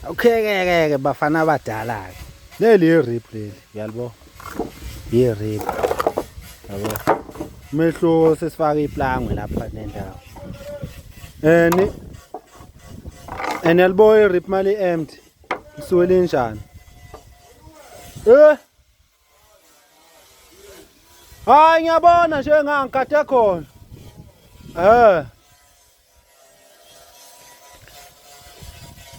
ukhekekeke bafana abadala-ke leli yirip leli uyalibo yirip yabo umehluko sesifaka iplangwe lapha nendawo and and yalibo irip mali empty isuke linjani eh Hayi ngiyabona nje ngangikade khona. Eh.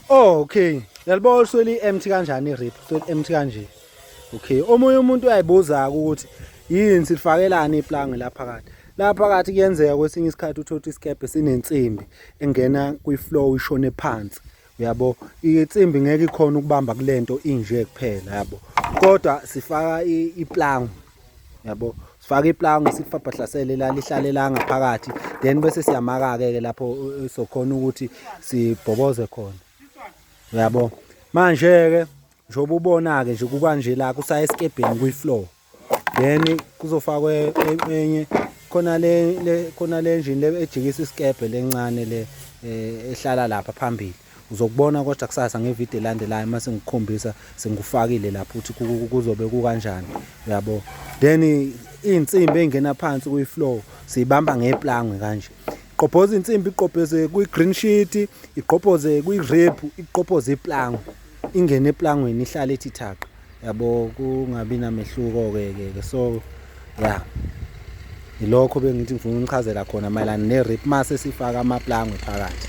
Oh, okay. Yalibona usweli empty kanjani rip? Usweli empty kanje. Okay. Omunye umuntu uyayibuza ukuthi yini sifakelani iplanga lapha kade. Lapha phakathi kuyenzeka kwesinye isikhathi uthotha isikebhe sinensimbi engena kwi-flow ishone phansi. yabo insimbi ngeke ikhona ukubamba kulento inje kuphela yabo kodwa sifaka iplangu yabo sifaka iplangu sifabhahlasele la lihlale la ngaphakathi then bese siyamaka ke lapho uh, uh, sokhona ukuthi sibhoboze khona yabo manje ke njengoba ubona ke nje kukanje la kusaye esikebheni kwi floor then kuzofakwe enye khona le le khona le engine le ejikisa isikebhe lencane le eh, ehlala lapha phambili uzokubona kodwa kusasa ngevideo elandelayo uma sengikukhombisa sengikufakile lapho ukuthi ku- ku- kuzobe kukanjani uyabo then iy'nsimbi ey'ngena phansi kuyi-flow siyibamba ngeplangwe kanje iqobhoza insimbi iqobhoze kwi-green sheet iqobhoze kwi-rib iqobhoze iplangwe ingene eplangweni ihlale ithi thaqa yabo kungabi namehluko-ke ke ke so ya yilokho bengithi ngifuna unichazela khona mayelana ne-rip mase sifaka amaplangwe phakathi